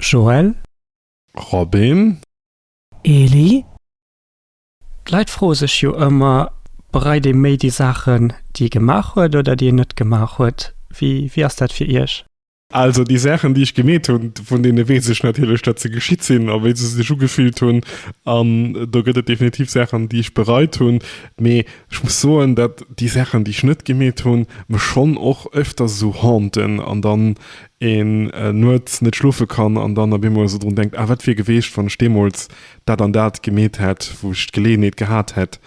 Joël. Robin. Eli, D'Leit froe sech jo ëmmer, bereit ee méi déi Saachen, déi ee gemaach huet oder déi een net gemaach huet? Wéi ass dat fir Iech? Also déi Saachen, déi ech gemeet hunn, vun deene weess ech natierlech, datt se geschitt sinn a wéi se sech ugefillt hunn. An do gëtt et definitiv Saachen, déi ech bereit hunn. Mee ech muss soen, datt déi Saachen, déi ech net gemeet hunn, mech schonn och éfters esou haunten an dann een nuets net schlofe kann an dann op eemol esou drun denkt, ah wat wier geweecht wann ech deemools dat an dat gemeet hätt, wou ech d'Geleeënheet gehat hätt.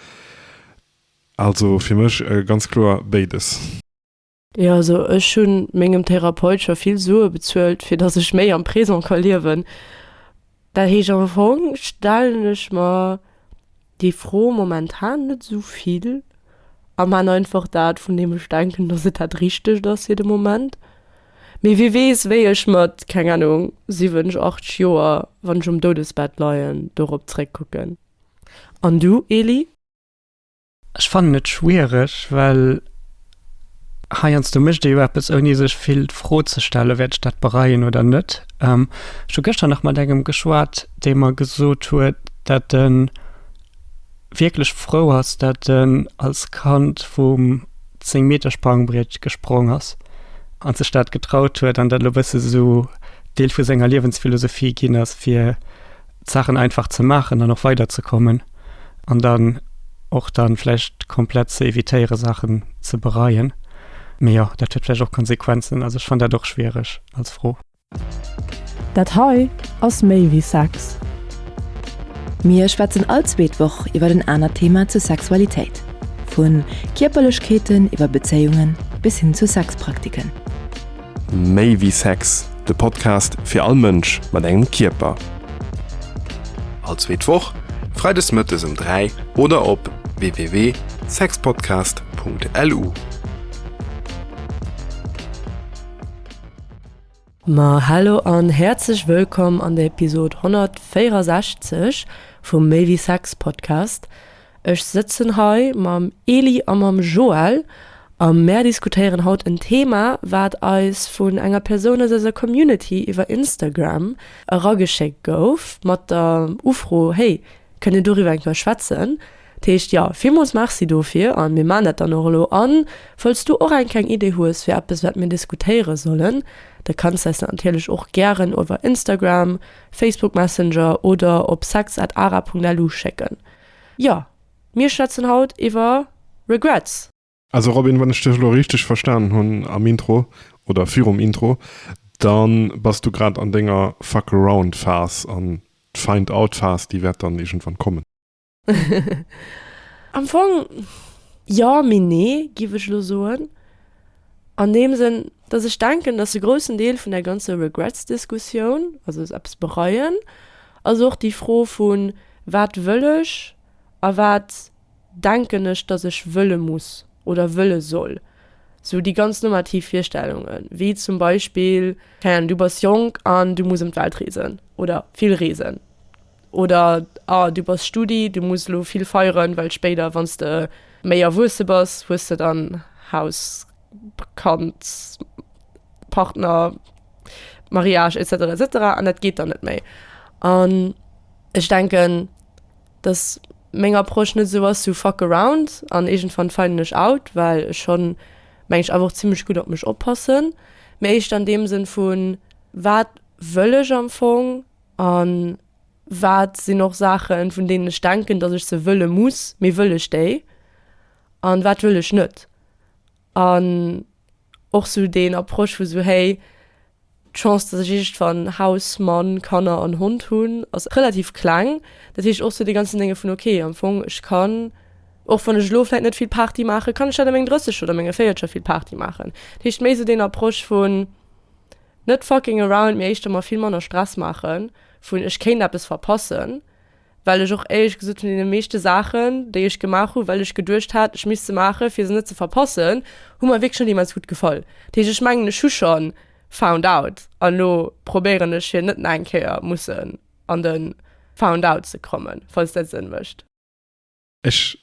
Also fir mech ganz kloer béides. Jo also ech hu mengem Therapeut scho vill Sue bezuelt fir dass ech méi am Présent ka liewen. Dat heescht am Fong stellen ech mer Déi Fro momentan net esou vill am han einfach dat vun deem ech denken dass et dat richtegt ass fir de Moment. Mee wie weess wéi ech mat, keng Ahnung, 7, 8 Joer wann ech um Doudesbett leien dorop zréck kucken. An du Eli? Ech fannen et schwiereg well Heiansdo mécht ee jo eppes, ouni sech vill d'Fro ze stellen, Wäert ech dat bereien oder net? Ech hu gëschter nach mat engem geschwat, dee mer gesot huet, datt e wierklech frou ass, datt en als Kand vum Zéngmetersprangbriet gesprong ass an sech dat getraut huet an dat elo e bësse sou Deel vu senger Liewensphilosophie ginn ass, fir D'Saachen einfach ze maachen an och weiderzekommen an dann och dann vläicht komplett ze evitéiere Saachen ze bereien. Mee jo, dat huet vläicht och Konsequenzen. Also ech fannt dat och schwiereg als Fro. Dat hei ass méi wéi Sex. Mir schwätzen all zweet Woch iwwert en anert Thema zur Sexualitéit, vun Kierperlechkeeten iwwer Bezéiungen bis hin zu Sexpraktiken. Méi wéi Sex, de Podcast fir all Mënsch mat engem Kierper. All zweet Woch, freides mëttes um 3 oder op www.sexpodcast.lu. Ma hallo an häerzlech wëllkomm an der Episode 164 vum Méi wéi Sex Podcast. Ech sëtzen hei mam Elie a mam Joël a mär diskutéieren haut en Thema, wat eis vun enger Persoun aus eiser Community iwwer Instagram erageschéckt gouf, mat der Ufro, Hey, kënnt Dir doriwwer eng Kéier schwätzen? Dat heescht, jo, villmools Merci dofir a mir maachen dat dann och elo. A falls du och eng kleng Idee hues fir eppes, wat mir diskutéiere sollen, da kanns du eis dat natierlech och gären iwwer Instagram, Facebook Messenger oder op sex at ara punkt lu schécken. Jo, mir schwätzen haut iwwer Regrets. Also Robin, wann ech dech elo richteg verstanen hunn am Intro oder virum Intro, dann bass du grad an denger Fuck around Phas an d'Find out Phas déi wäert dann iergendwann kommen. Am Fong jo, mee nee giff ech elo soen. An deem Sënn, dass ech denken, dass e groussen Deel vun der ganzer Regrets Diskussioun, also eppes bereien, ass och déi Fro vun, Wat wëll ech a wat denken ech, datt ech wëlle muss oder wëlle soll? Sou déi ganz normativ Virstellungen, wéi zum Beispill, keng Ahnung, du bass jonk an du muss ëm d'Welt reesen oder vill reesen oder ah du bass Studi, du muss elo vill feieren, well spéider, wann s de méi erwuesse bass, hues de dann Haus, Kand, Partner, Mariage, etc. Etc. An dat geet dann net méi. Ech denken dass meng Approche net esou ass sou fuck around an iergendwann finden ech out, well ech schonn meng ech awer och zimmlech gutt op mech oppassen, mee éischter an deem Sënn vu wat wëll ech am Fong an wat sinn och Saachen vun deenen ech denken dass ech se wëlle muss, mee wëll ech déi an wat wëll ech net. An och sou deen Approche vu sou, hey, d'Chance, dass ech iergendwann Haus, Mann, Kanner an Hond hunn, ass relativ kleng. Dat heescht och sou dee ganzen Dénge vun, ok, am Fong, ech kann, och wann ech elo vläit net vill Party maachen, kann ech dat a mengem Drësseger oder menge Véierzeger vill Party maachen. Dat heescht méi sou deen Approche vun net fucking around, mee éischter mer vill manner Stress maachen, vun ech kéint eppes verpassen. well ech och éierlech gesot vun deene meeschte Saachen, déi ech gemaach hu well ech geduecht hat, ech misst se maachen, fir se net ze verpassen, hu mer wierklech net immens gutt gefall. Dat heescht, ech mengen, ech hu schonn found out an elo probéieren ech fir net nach eng Kéier mussen an de found out ze kommen, falls dat Sënn mécht. Ech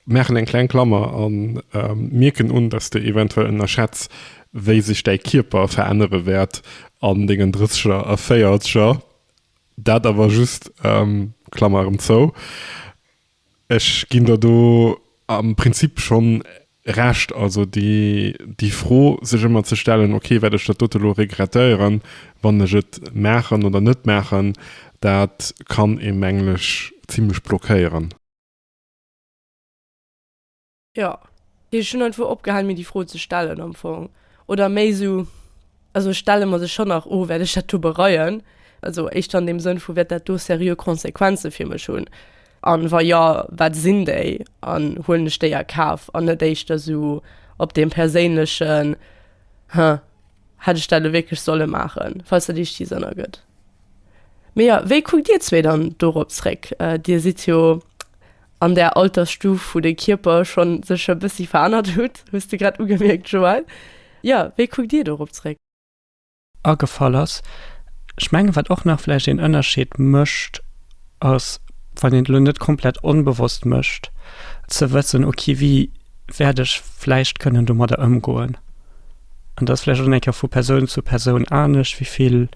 maachen eng kleng Klammer an mierken un, dass de eventuell ënnerschätz, wéi sech däi Kierper verännere wäert an dengen Drësseger a Véierzeger. Dat awer just Klammer erëm zou. Ech ginn der do am Prinzip schonn Recht, also déi, déi Fro sech ëmmer ze stellen, ok, wäert ech dat dote lo regretteieren, wann ech et maachen oder net maachen, dat kann ee mengen ech zimlech blockéieren. Jo, ech hunn einfach opgehalen mir déi Fro ze stellen am Fong oder méi esou. Also ech stelle mer se schonn nach o wäert ech dat do bereien. Also éischter an deem Sënn vu wäert dat do seriö Konsequenze fir mech hunn? An wa jo, wat sinn déi? An huelen ech déi a Kaf? An net éischter esou op deem perséinlechen Huh, hätt ech dat elo wierklech solle maachen? Falls dat iech Sinn ergëtt. Mee jo, wéi kuckt dir zwee dann dorop zréck? Dir sidd jo. an der Altersstuf, wou de Kierper scho sech e bëssi verännert hutt, hues de grad ugemierkt, Joël. Jo, wéi kuckt Dir dorop zréck? Agefall ass. Ech mengen, wat och nach vläicht een Ënnerscheed mécht, ass, wann een et elo net komplett onbewosst mécht, ze wëssen, ok, wéi wäert ech vläicht kënnen domadder ëmgoen. An dat ass vläicht och nach eng Kéier vu Persoun zu Persoun anescht, wéi vill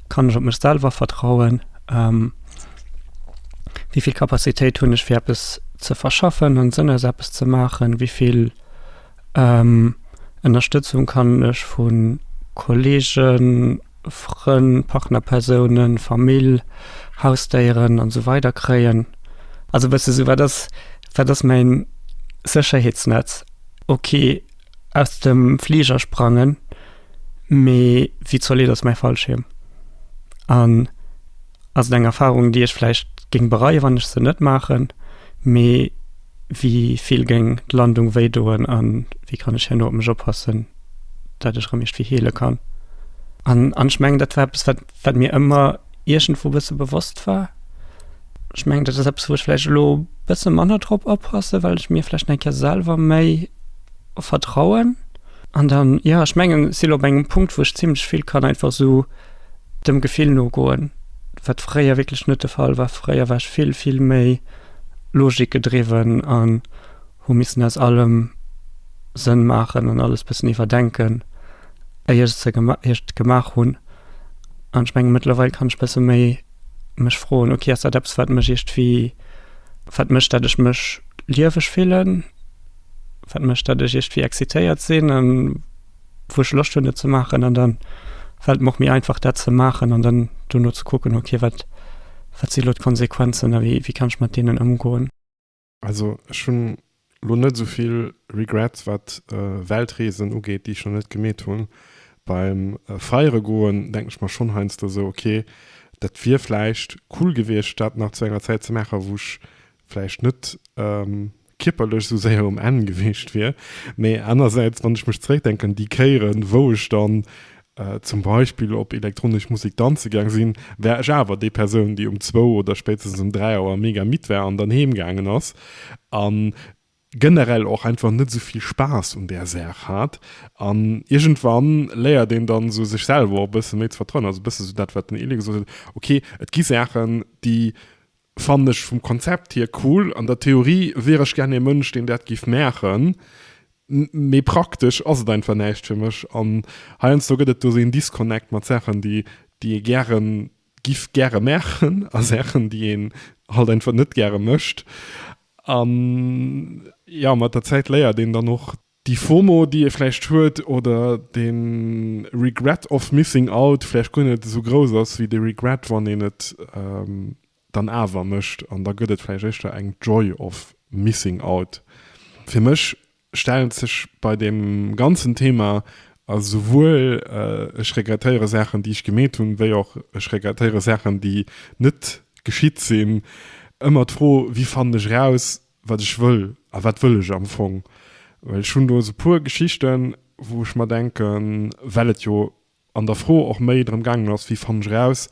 kann ech op mech selwer vertrauen. wéi vill Kapazitéit hunn ech fir eppes ze verschaffen, hunn Sënn aus eppes ze maachen, wéi vill Ënnerstëtzung kann ech vu Kollegen, Frënn, Partnerpersounen, Famill, Hausdéieren an esou weider kréien. Also e bësse sou, wat ass, wat ass mäin Sécherheetsnetz? Ok, aus dem Fliger sprangen, mee wéi zolidd ass mäi Fallschierm? An. ass et eng Erfahrung, déi ech vläicht géing bereien, wann ech se net maachen, mee wéi vill géing d'Landung wéi doen a wéi kann ech herno op mech oppassen, dat ech erëm iergendwéi heele kann? An an ech mengen, dat war eppes, wat wat mir ëmmer iergendwou bësse bewosst war. Ech mengen, dat ass eppes, wou ech vläicht elo bësse manner drop oppassen, well ech mir vläicht eng Kéier selwer méi vertrauen. An dann, jo, ech mengen, si lo op engem Punkt, wou ech zimmlech vill kann einfach esou. dem Gefill nogoen, wat fréier wierklech net de Fall war. Fréier war ech vill, vill méi logikgedriwwen an hu missen aus allem Sënn maachen an alles bëssen iwwerdenken, éier ech se gema éier ech et gemaach hunn. An ech menge mëttlerweil kann ech bësse méi mech froen, ok, ass dat eppes, wat mech iergendwéi, wat mécht, datt ech mech lieweg fillen, wat mécht, datt ech iergendwéi excitéiert sinn a wou ech Loscht hunn et ze maachen an dann fält mer och méi einfach dat ze maachen an dann dono ze kucken ok wat wat si lo d'Konsequenzen a wéi wéi kann ech mat deenen ëmgoen. Also ech hunn lo net esou vill Regrets wat Weltreesen ugeet déi ech nach net gemeet hunn. Beim feiere goen denken ech mer schonn heiansdo esou ok dat wier vläicht cool gewiescht dat nach zu enger Zäit ze maachen wou ech vläicht net kierperlech esou séier um Enn gewiescht wier, mee anersäits, wann ech mech zeréckdenken, déi Kéieren, wou ech dann zum Beispill op elektronesch Musek danze gaang sinn, war ech awer déi Persoun, déi um zwou oder spéitstens um dräi Auer mega midd war an dann heem gaangen ass a generell och einfach net esou vill Spaass un där Saach hat. An iergendwann léiert een dann esou sech selwer och e bësse méi ze vertrauen, also e bësse esou dat, wat den Elie gesot huet, ok, et gi Saachen, déi Fannen ech vum Konzept hier cool. An der Theorie wier ech gär ee Mënsch deen dat giff maachen, mee praktesch ass et einfach näischt fir mech. An heiansdo gëtt et do esou een Disconnect mat Saachen déi déi ee gären giff gäre maachen a Saachen déi een halt einfach net gäre mécht. An jo mat der Zäit léiert een dann och. Déi Fomo, déi ee vläicht huet, oder de Regret of missing out vläicht guer net esou grouss ass wéi de Regret, wann een et dann awer mécht. An da gëtt et vläicht éischter eng Joy of missing out. Fir mech stellt sech bei deem ganzen Thema esouwuel ech regrettéiere Saachen, déi ech gemeet hunn, wéi och ech regrettéiere Saachen, déi net geschitt sinn, ëmmer d'Fro, Wéi fannen ech eraus, wat ech wëll a wat wëll ech am Fong. Well ech hunn do sou e puer Geschichten, wou ech mer denken, well et jo an der Fro och méi drëm gaangen ass, wéi fannen ech eraus,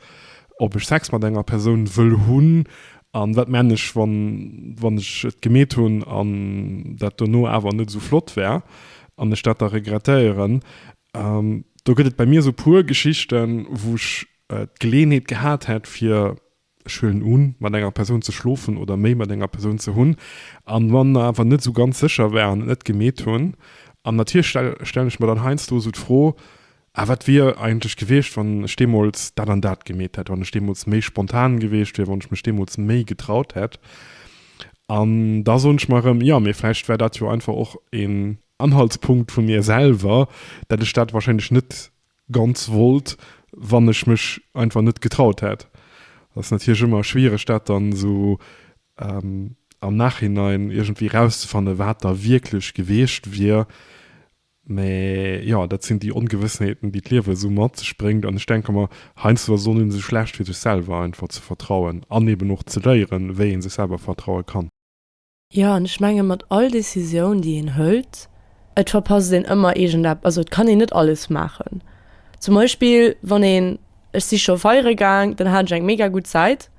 ob ech Sex mat enger Persoun wëll hunn a wat männ ech, wann, wann ech et gemeet hunn an dat dono awer net esou flott war an ech dat da regrettéieren. Do gëtt et bei mir sou e puer Geschichten, wou ech d'Geleeënheet gehat hätt, fir Ech huelen un, mat enger Persoun ze schlofen oder méi mat enger Persoun ze hunn, an wann mer awer net esou ganz sécher waren, et net gemeet hunn. An natierlech stellen ech mer dann heiansdo esou d'Fro, Ah, wat wier eigentlech gewiescht, wann ech deemools dat an dat gemeet hätt, wann ech deemools méi spontan gewiescht wier, wann ech mech deemools méi getraut hätt? An da soen ech mer erëm, Jo, mee vläicht war dat jo einfach och een Anhaltspunkt vu mir selwer, dat ech dat warscheinlech net ganz wollt, wann ech mech einfach net getraut hätt. Dat ass natierlech ëmmer schwiereg, dat dann esou am Nachhinein iergendwéi erauszefannen, wat da wierklech gewiescht wier. Mä jo, dat sinn déi Ongewëssenheeten, déi d'Liewe esou mat sech bréngt. An ech denke mer, heiansdo ass et och net esou schlecht, fir sech selwer einfach ze vertrauen an eeben och ze léieren, wéi ee sech selwer vertraue kann. Jo, an ech menge mat all Décisioun, déi een hëlt, et verpasst een ëmmer iergendep, also et kann een net alles maachen. Zum Beispill wann een, ech si scho feiere gaang, dann hat ech eng mega gutt Zäit.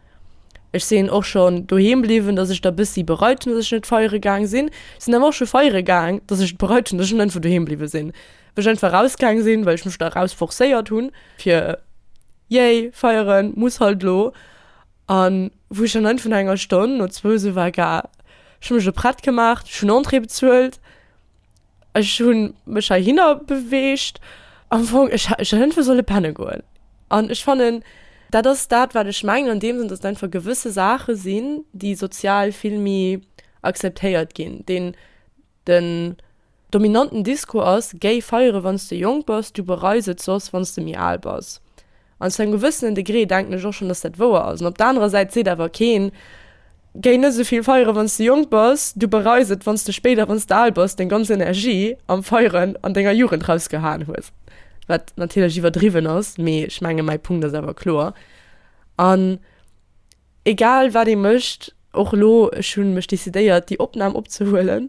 Ech sinn och schonn doheem bliwwen, dass ech der bëssi bereut hunn, dass ech net feiere gaang sinn. Ech sinn awer och scho feiere gaang, dass ech et bereut hunn, dass ech net einfach doheem bliwwe sinn, wou ech einfach rausgaang sinn, well ech mech da raus forcéiert hunn, fir, yay, feieren muss halt elo. An wou ech dann vun enger Stonn no zwou sou war, ga ech mech prett gemaach, ech hunn Entrée bezuelt, ech hu mech heihinner beweegt. Am Fong, ech hätt einfach solle penne goen. An ech fannen, dat ass dat, wat ech mengen an deem Sënn, datt et einfach gewësse Saache sinn, déi sozial vill méi acceptéiert ginn, deen. Den dominanten Discours ass, Géi feiere wann s de jonk bass, du bereis et soss wann s de méi al bass. An zu engem gewëssenen Degré denken ech och schonn, datt dat wouer ass. An op der anerer Säit seet awer keen, Géi net esou vill feiere wann s de jonk bass, du bereis et wann s de spéider, wann s de al bass, deng ganz Energie am Feieren an denger Jugend rausgehaen hues. Wat natierlech iwwerdriwwen ass, mee ech menge mäi Punkt ass awer kloer. An. Egal wat ee mécht, och elo, ech hu mech decidéiert déi Opnam opzehuelen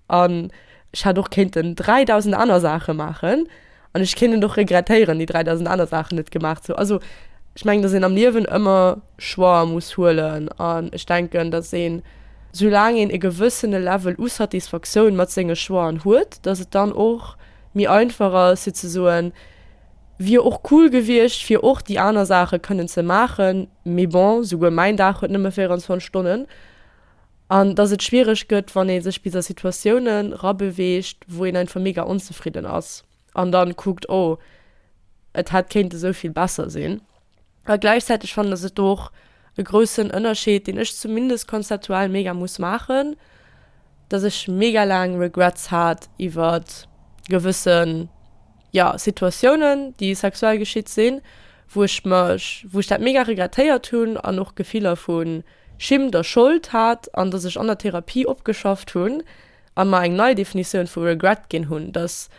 an ech hätt och kéinten 3000 aner Saache maachen an ech kéint et och regrettéieren déi 3000 aner Saachen net gemaach ze hunn. Also ech mengen, datt een am Liewen ëmmer Choixer muss huelen an ech denken, datt een, soulaang een e gewëssene Level u Satisfactioun mat senge Choixen huet, datt et dann och méi einfach ass fir ze soen, wier och cool gewiescht fir och déi aner Saache kënnen ze maachen, Mee bon, souguer mäin Dag huet nëmme 24 Stonnen. An dass et schwiereg gëtt, wann ee sech bis a Situatioune rabeweegt, wou een einfach mega onzefridden ass an dann kuckt, oh, et hätt kéint esou vill besser sinn. A gläichzäiteg fannen, dass et do och e groussen Ënnerscheed, deen ech zumindest konzeptuell mega muss maachen, dass ech mega laang Regrets hat iwwert gewëssen. jo Situatiounen déi sexuell geschitt sinn, wou ech mech, wou ech dat mega regrettéiert hunn an och Gefiller vu Schimmt a Schold hat an dass ech an der Therapie opgeschafft hunn a mer eng nei Definitioun vu Regret ginn hunn, dass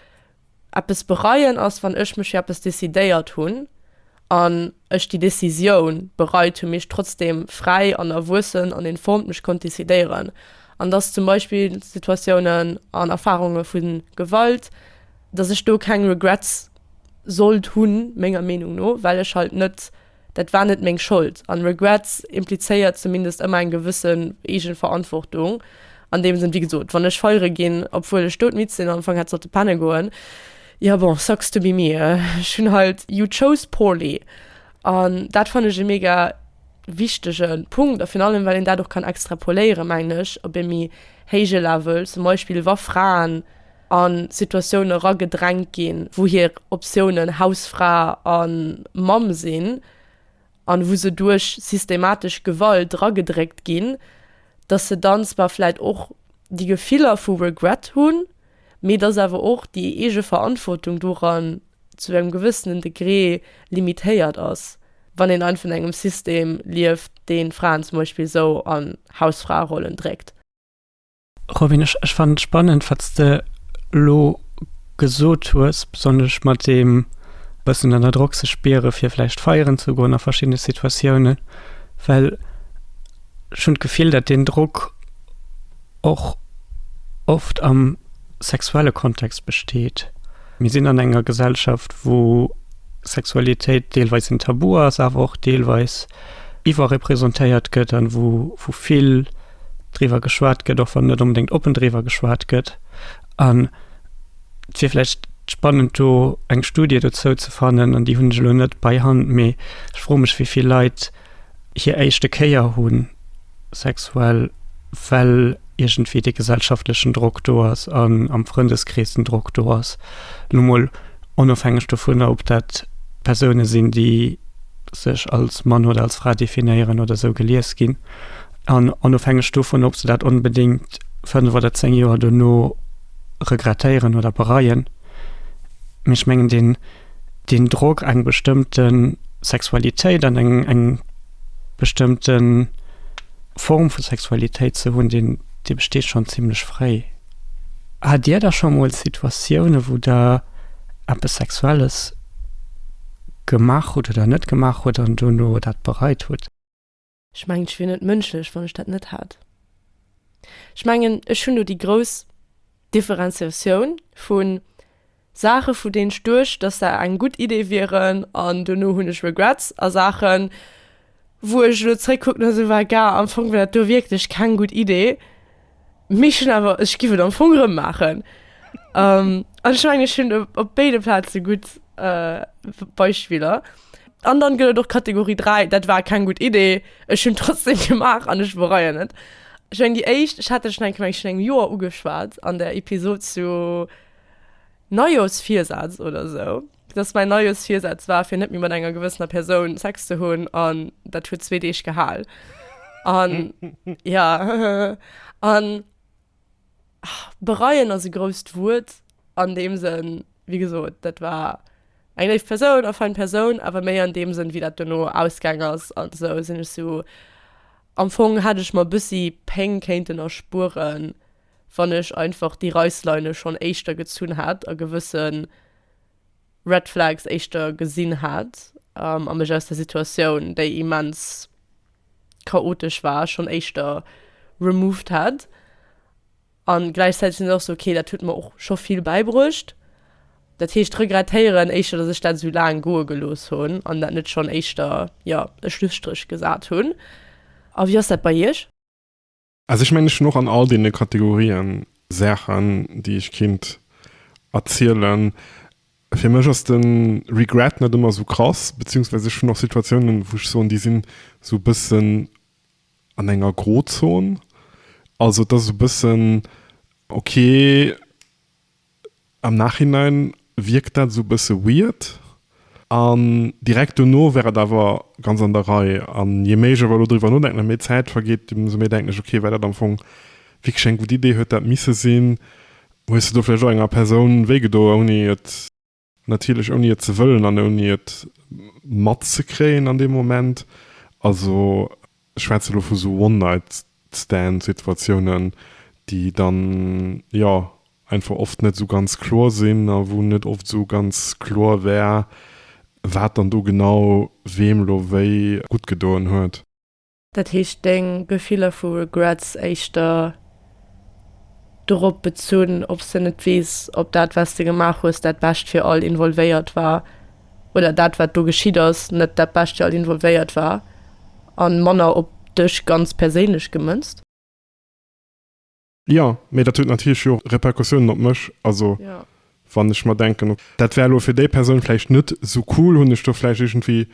eppes bereien ass wann ech mech fir eppes decidéiert hunn an. ech déi Décisioun bereit hu, mee ech trotzdem fräi an erwuessen an informed mech konnt décidéieren, an dass zum Beispill Situatiounen an Erfahrunge vu Gewalt, dass ech do keng Regrets sollt hunn, menger Meenung no, well ech halt net, dat war net meng Schold. An Regrets implizéiert zumindest ëmmer eng gewësse Eegenverantwortung an deem Sënn. Wéi gesot, wann ech feiere ginn, obwuel ech doudmidd sinn an am Fong hätt sollte penne goen, Ja bon, sucks to be me. Ech hunn halt You chose poorly an dat fannen ech e mega wichtege Punkt a virun allem well een dat och kann extrapoléiere mengen ech op ee méi héije Level, zum Beispill wa Fraen a Situatioune eragedrängt ginn, wou hir Optiounen Hausfra a Mamm sinn an wou se duerch systematesch Gewalt eragedréckt ginn, datt se dann zwar vläit och déi Gefiller vu Regret hunn, Mee et ass awer och déi eege Verantwortung doran zu engem gewëssenen Degré limitéiert ass, wann een einfach an engem System lieft, deen Fraen zum Beispill esou an Hausfraerollen dréckt. Robin, ech fannen et spannend, wat s de elo gesot hues, besonnesch mat deem e bëssen ënner Drock sech spiere fir vläicht feieren ze goen a verschiddene Situatiounen, well ech hunn d'Gefill, dat deen Drock, och oft am sexuelle Kontext besteet. Mir sinn an enger Gesellschaft, wou Sexualitéit deelweis en Tabu ass, awer och deelweis iwwerrepresentéiert gëtt an wou wou vill driwwer geschwat gëtt, och wann net onbedéngt oppen driwwer geschwat gëtt. An et wier vläicht spannend, do eng Studie dozou ze fannen, an déi hunn ech elo net bei Hand, mee ech froe mech, wéi vill Leit, hir éischte Kéier hu sexuell, well iergendwéi dee gesellschaftlechen Drock do ass an am Frëndeskrees den Drock do ass, lo mol onofhängeg dovunner, ob dat Persoune sinn, déi sech als Mann oder als Fra definéieren oder esou gelies ginn, an onofhängeg dovun, ob se dat onbedéngt fënnf oder zéng Joer dono regrettéieren oder bereien. Mee ech mengen, deen. den Drock eng bestëmmte Sexualitéit an eng eng bestëmmte Form vu Sexualitéit ze hunn, deen dee besteet schonn zimlech fréi. Hat Dir da scho mol Situatioune wou Der eppes Sexuelles gemaach hutt oder net gemaach hutt an dono dat bereit hutt? Ech mengen, ech wier net mënschlech, wann ech dat net hätt. Ech mengen, ech hunn do déi grouss Differenziatioun vu Saache vu deenen ech duecht, datt se eng gutt Idee wieren an duerno hunn ech Regrets, a Saache wou ech elo zeréckkucken a soe, Well gar am Fong war dat do wierklech keng gutt Idee. Mee schon awer ech giff et am Fong rëm maachen. um, an ech menge schon op béide Plaze gutt uh, Beispiller. An dann gëtt et och Kategorie 3, dat war keng gutt Idee, ech hunn trotzdem gemaach an ech bereien net. Ech meng déi éischt, ech hat der schon eng Kéier meng ech virun engem Joer ugeschwat an der Episode zu Neijooschvirsaz oder sou. Dass mäin neies Virsaz war, fir net méi mat enger gewëssener Persoun Sex ze hunn, an dat huet zwee Deeg gehal. An ja, an bereien ass e grousst Wuert an deem Sënn, wéi gesot, dat war eng léif Persoun a fein Persoun, awer méi an deem Sënn, wéi dat duerno ausgaang ass an esou, sinn ech esou, am Fong hätt ech mer bëssi Péng kéinten erspueren. wann ech einfach déi Reissleine schonn éischter gezunn hat a gewësse Red Flags éischter gesinn hat a mech aus der Situatioun, déi immens chaotesch war, schonn éischter removed hat. An gläichzäiteg sinn ech och esou, okay, dat huet mer och scho vill bäibruecht. Dat heescht, regrettéieren éischter, datt ech dat esou laang goe gelooss hunn an dat net schonn éischter, jo, e Schlusstréch gesat hunn. A wéi ass dat bei Iech? Also ech mengen, ech hunn och an all deene Kategorien Saachen, déi ech kinnt erzielen. Fir mech ass de Regret net ëmmer esou krass, beziehungsweise ech hunn och Situatiounen, wou ech soen, déi sinn esou e bëssen an enger Grozon. Also et ass esou e bëssen, okay, Am Nachhinein wierkt dat esou e bësse weird an direkt dono wär et awer ganz an der Rei. An je méi ech awer elo driwwer nodenken a méi Zäit vergeet, ëmsou méi denken ech, ok, well dat am Fong wierklech eng gutt Idee huet dat misse sinn. Hues de do vläicht och enger Persoun wéigedoen, ouni et. Natierlech ouni et ze wëllen an ouni et matzekréien an deem Moment. Also ech schwätze lo vu sou One-Night-Stand-Situatiounen, déi dann, jo, einfach oft net esou ganz kloer sinn a wou net oft esou ganz kloer war, wat dann do genau weem lo wéi guttgedoen huet. Dat heescht deng Gefiller vu Regrets éischter dorop bezunn, ob s de net weess, ob dat, wat s de gemaach hues, dat Bescht fir all Involvéiert war, oder dat, wat do geschitt ass, net dat Bescht fir all Involvéiert war, a manner op dech ganz perséinlech gemënzt. Jo, mee dat huet natierlech jo och Repercussiounen op mech. Also wann ech mer denken, ok, dat war elo fir déi Persoun vläicht net esou cool, hunn ech do vläicht iergendwéi,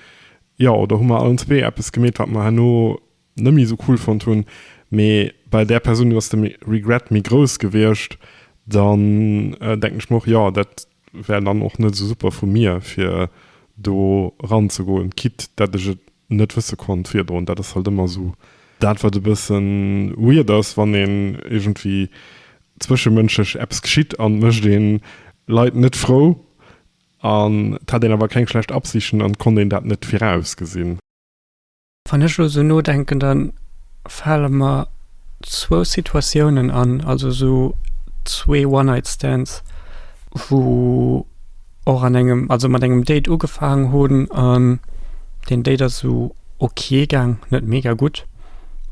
jo, oder hu mer allen zwee eppes gemeet, wat mer herno net méi esou cool fonnt hunn. Mee bei där Persoun, do ass de Regret méi grouss gewiescht. Dann denken ech mer och, jo, dat Wär dann och net esou super vu mir fir do ran ze goen, quitte dat ech et net wësse konnt virdroen. Dat ass halt ëmmer esou dat wat e bëssen weird ass wann een iergendwéi zwëschemënschlech eppes geschitt an et mécht een Leit net frou an et hat een awer keng schlecht Absichten an et konnt een dat net virausgesinn. Wann ech elo sou nodenken, da fale mer zwou Situatiounen an, also esou zwee One-Night-Stands, wou och an engem, also mat engem Date ugefaangen hunn an deen Date ass esou ok gaang, net mega gutt,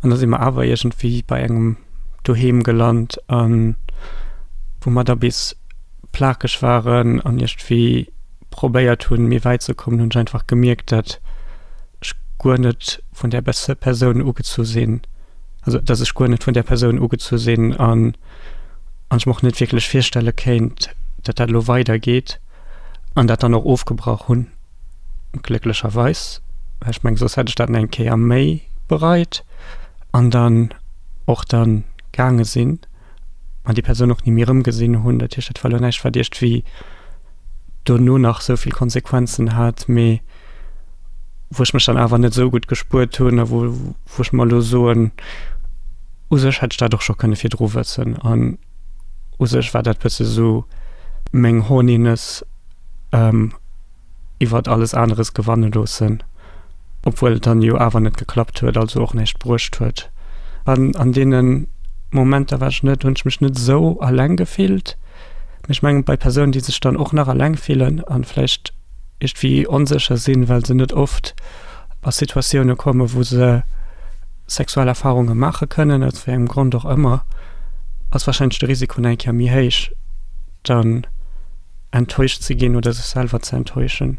an da si mer awer iergendwéi bei engem doheem gelant, wou mer da bis plakeg waren an iergendwéi. probéiert hunn, méi wäit ze kommen, hunn ech einfach gemierkt, dat ech guer net vun där Persoun ugezu sinn, also dat ech guer net vun där Persoun ugezu sinn an an ech mer och net wierklech virstelle kéint, dat dat elo weidergeet an dat dann och ofgebrach hunn. Glécklecherweis, well ech menge soss hätt ech dat nach eng Kéier méi bereit an dann och dann gaange sinn. an déi Persoun och ni méi erëmgesinn hunn. Dat heescht, dat war elo näischt, wat iergendwéi dono nach esou vill Konsequenzen hat, mee wou ech mech dann awer net esou gutt gespuert hunn a wou wou ech mer elo soen, u sech hätt ech dat och scho kënne virdru wëssen an u sech war dat bësse esou meng Horniness. iwwert alles aneres gewanne loossen, obwuel et dann jo awer net geklappt huet, also och näischt bruecht huet. An an deene Momenter war ech net hunn ech mech net esou alleng gefillt. Mee ech mengen, bei Persounen, déi sech dann och nach alleng fillen an vläicht iergendwéi onsécher sinn, well se net oft a Situatioune kommen, wou se sexuell Erfarunge maache kënnen, aus wéi engem Grond och ëmmer, ass warscheinlech de Risiko nach eng Kéier méi héich, dann, enttäuscht ze ginn oder sech selwer ze enttäuschen.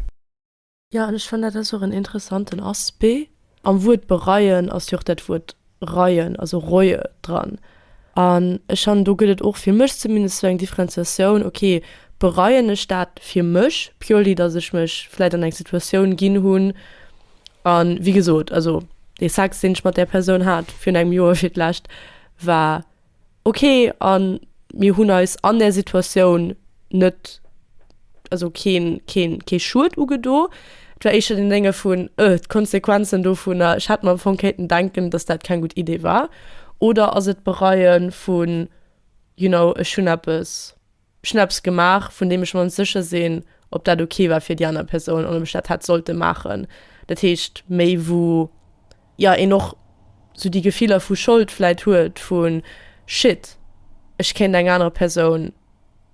Jo, an ech fannen dat ass och en interessanten Aspect. Am Wuert bereien ass jo och dat Wuert reuen, also reue dran. An ech fannen, do gëtt et och fir mech zumindest esou eng Differenziatioun, ok, bereien ech dat fir mech purely, datt ech mech vläit an eng Situatioun ginn hunn a wéi gesot, also dee Sex, deen ech mat där Persoun hat virun engem Joer fir d'lescht, war ok a mir hunn eis an där Situatioun net, also keen, keen, kee Schued ugedo. Et war éischter deen Dénge vun, öh, d'Konsequenzen dovunner, ech hätt mer am Fong kéinten denken, dass dat keng gutt Idee war. Oder ass et d'Bereien vun, you know, ech hunn eppes. Ech hunn eppes gemaach, vun deem ech mer net sécher sinn, ob dat ok war fir déi aner Persoun an ob ech dat hätt sollte maachen. Dat heescht, méi wou, jo, een och sou déi Gefiller vu Schold vläit huet, vu Shit, ech kéint eng aner Persoun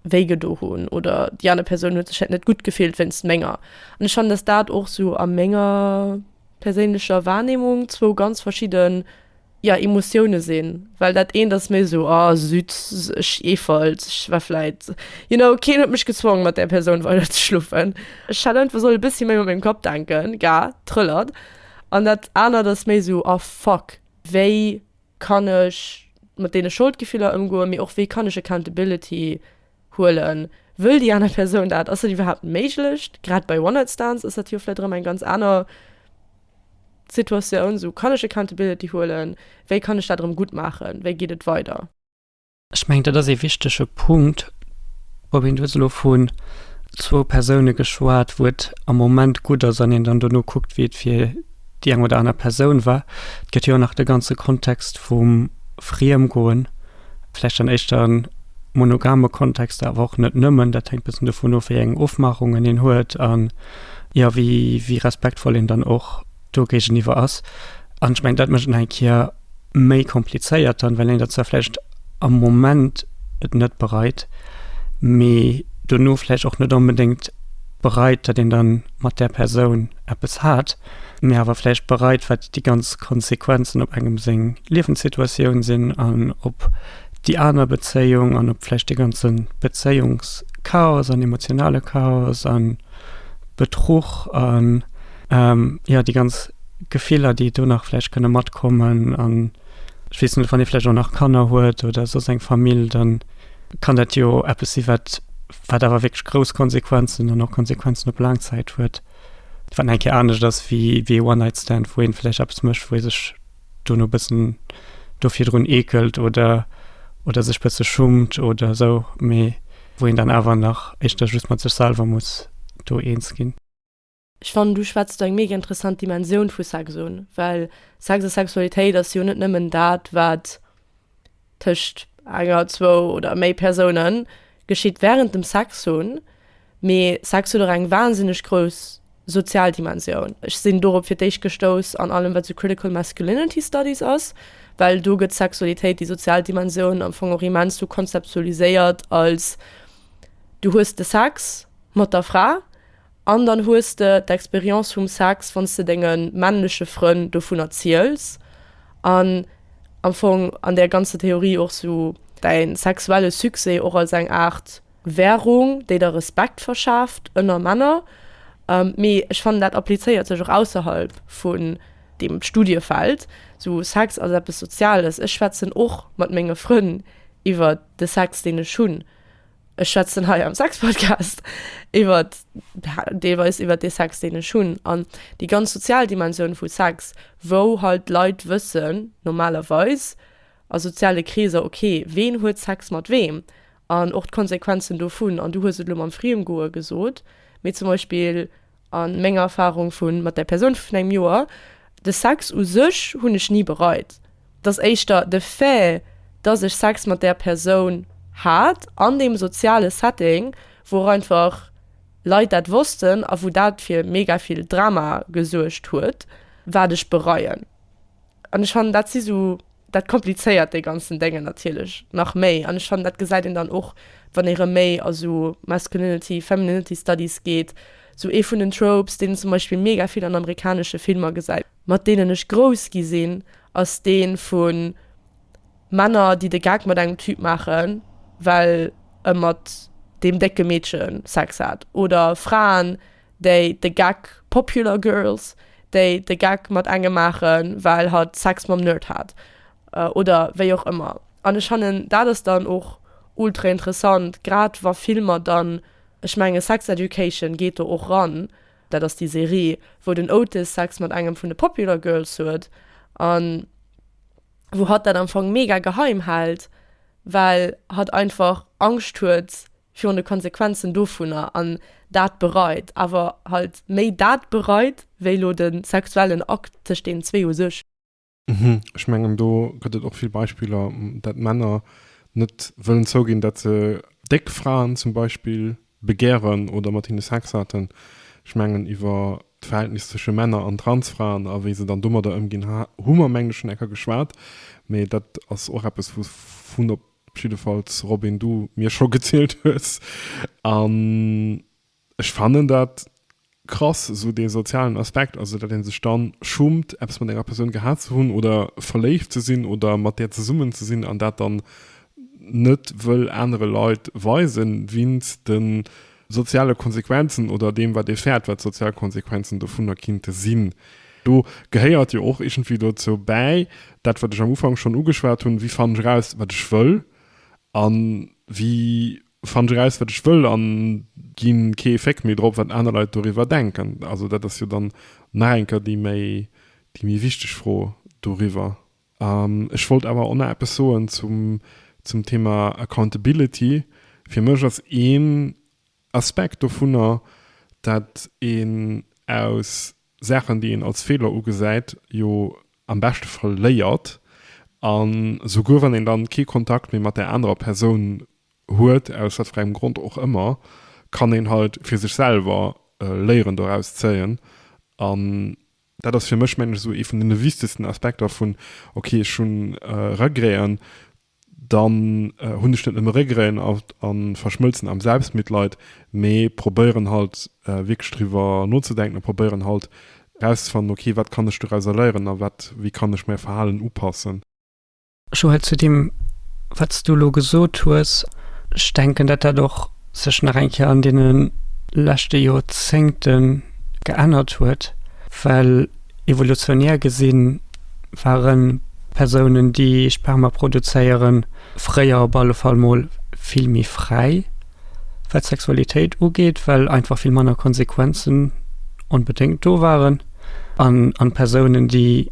wéigedo hunn oder déi aner Persoun huet sech hätt net gutt gefillt wéinst menger. An ech fannen, dass dat och sou a menger perséinlecher Wahrnehmung zwou ganz verschidde ja Emotiounen sinn well dat eent ass méi esou oh süd ech eefelt ech war vläit you know keen huet mech gezwongen mat där Persoun weider ze schlofen ech hätt einfach solle bëssi méi mat mengem Kapp denken ga trëllert an dat anert ass méi esou oh fuck wéi kann ech mat deene Scholdgefiller ëmgoen mee och wéi kann ech accountability Huelen wëll déi aner Persoun dat? Ass dat iwwerhaapt méiglech? Grad bei One Night Stands ass dat jo vläicht erëm eng ganz aner Situatioun. Sou, kann ech Accountability huelen? Wéi kann ech dat erëm gutt maachen? Wéi geet et weider? Ech mengen, dat ass ee wichtege Punkt. Robin, du hues elo vu zwou Persoune geschwat, wou et am Moment gutt ass an een dann dono kuckt, wéi et fir déi eng oder aner Persoun war. Et gëtt jo och nach de ganze Kontext vum Friemgoen. vläicht an éischter monogame Kontexter, awer och net nëmmen, dat hänkt e bëssen dovun of, wéi eng Ofmachungen een huet a jo, wéi, wéi respektvoll een dann och do géigeniwwer ass. An ech mengen, dat mécht et nach eng Kéier méi komplizéiert dann, well een dat zwar vläicht am Moment et net bereit, mee dono vläicht och net onbedéngt bereit, datt een da mat där Persoun eppes hat. mee awer vläicht bereit, wat déi ganz Konsequenzen op engem seng Liewenssituatioun sinn an op déi aner Bezéiung an op vläicht dee ganze Bezéiungschaos an emotionale Chaos a Betruch a jo, déi ganz Gefiller, déi do nach vläicht kënne matkommen. An ech weess net, wann ee vläicht och nach Kanner huet oder soss eng Famill, da kann dat jo eppes si wat awer wierklech grouss Konsequenzen an och Konsequenzen op Laangzäit huet. Wann eng Kéier anescht ass wéi ee One-Night-Stand, wou ee vläicht eppes mécht, wou ee sech dono e bëssen do virdrun eekelt oder, oder sech e bësse schummt oder esou, mee wou een dann awer nach éischter just mat sech selwer muss do eens ginn. Ech fannen, du schwätz do eng mega interessant Dimensioun vu Sex un, well Sex a Sexualitéit ass jo net nëmmen dat, wat tëscht enger, zwou oder méi Persounen, geschitt wärend dem Sex hunn, mee Sex huet och eng wahnsinneg grouss sozial Dimensioun. Ech sinn dorop fir d'éischt gestouss an allem, wat esou Critical Masculinity Studies ass, well do gëtt d'Sexualitéit, déi sozial Dimensioun, am Fong och immens sou konzeptualiséiert als, Du hues de Sex mat der Fra An dann hues de d'Expérience vum Sex, wann s de denge männleche Frënn dovunner ziels an am Fong an där ganzer Theorie och sou däi sexuelle Succès och als eng Aart Währung, déi der Respekt verschaaft ënner Männer. Mee ech fannen, dat applizéiert sech och ausserhalb vun deem Studiefeld. Sou Sex ass eppes Soziales. Ech schwätzen och mat menge Frënn iwwert de Sex, deen ech hunn. ech schwätzen hei am Sexpodcast iwwert deelweis iwwert dee Sex, deen ech hunn an déi ganz sozial Dimensioun vu Sex, wou halt d'Leit wëssen normalerweis a soziale Kreeser, okay, ween huet Sex mat weem an och d'Konsequenzen dovun. An du hues et elo mam Friemgoe gesot, mee zum Beispill. A menger Erfarung vu mat där Persoun vun engem Joer, de Sex u sech hunn ech ni bereit. Et ass éischter de Fait, dass ech Sex mat där Persoun hat an deem soziale Setting, wou och einfach Leit dat wossten a wou dat fir mega vill Drama gesuergt huet, wat ech bereien. An ech fannen, dat si sou Dat komplizéiert déi ganzen Déngen natierlech nach méi an ech fannen dat gesäit een dann och wann ee rëm méi a sou Masculinity, Femininity Studies geet. Sou ee vun den Tropes deen een zum Beispill mega vill an amerikanesche Filmer gesäit, mat deenen ech grouss gi sinn, ass dee vu Männer déi de Gag mat engem Typ maachen, well e mat deem décke Meedche Sex hat oder Fraen, déi de Gag Popular Girls, déi de Gag mat engem maachen, well hatt Sex mam Nerd hat oder wéi och ëmmer. An ech fannen dat ass dann och ultra interessant, grad wa Filmer dann, ech menge Sex Education geet do och ran, dat ass déi Serie, wou den Otis Sex mat engem vun de Popular Girls huet a wou hatt dat am Fong mega geheim hält, well hatt einfach Angscht huet, virun de Konsequenzen dovunner an dat bereit, awer halt méi dat bereit wéi lo de sexuellen Akt tëscht deenen zwee u sech. Ech mengen do gëtt et och vill Beispiller, dat Männer net wëllen zouginn, dat se déck Fraen zum Beispill begären oder mat hinne Sex haten. Ech mengen iwwer d'Verhältnis tësche Männer an Transfraen a wéi se dann domadder ëmginn hu mer mengen ech schonn enker geschwat, mee dat ass och eppes wou vun op Op jiddefalls, Robin, du mir scho gezielt hues. An ech fannen dat krass, esou dee sozialen Aspekt, also datt ee sech dann schummt, eppes mat enger Persoun gehat ze hunn oder verléift ze sinn oder mat där zesummen ze sinn an dat dann net wëll anere Leit weisen, weinst de soziale Konsequenzen oder deem, wat ee fäert, wat d'sozial Konsequenzen dovunner kinnte sinn. Do gehéiert jo och iergendwéi dozou bäi, dat, wat ech am Ufank schonn ugeschwat hunn, Wéi fannen ech eraus, wat ech wëll? A wéi fannen ech eraus, wat ech wëll a gi kee Féck méi drop, wat aner Leit doriwwer denken? Also dat ass jo dann nach eng Kéier déi méi wichteg Fro doriwwer. Ech wollt awer och nach eppes soen zum Thema Accountability. Fir mech ass een Aspekt dovunner, dat een aus Saachen, déi een als Feeler ugesäit, jo am beschte Fall léiert. An souguer wann een dann kee Kontakt méi mat där anerer Persoun huet, aus wat fir engem Grond och ëmmer, kann een halt fir sech selwer Léieren doraus zéien an Dat ass fir mech, mengen ech, esou ee vun den wichtegsten Aspekter vun, ok, ech hu Regreten, dann hunn ech net nëmme Regreten a verschmëlzen am Selbstmitleid, mee probéieren halt wierklech driwwer nozedenken a probéieren halt erauszefannen, ok, wat kann ech dorauser léieren a wat, wéi kann ech mäi Verhalen upassen. Joël, zu deem wat s du elo gesot hues, ech denken dat dat och sech nach eng Kéier an deene leschte Jorzéngte geännert huet, well evolutionär gesi ware Persounen déi Sperma produzéieren, fréier op alle Fall mol vill méi fräi wat d'Sexualitéit ugeet, well einfach vill manner Konsequenzen onbedéngt do waren an Persounen déi,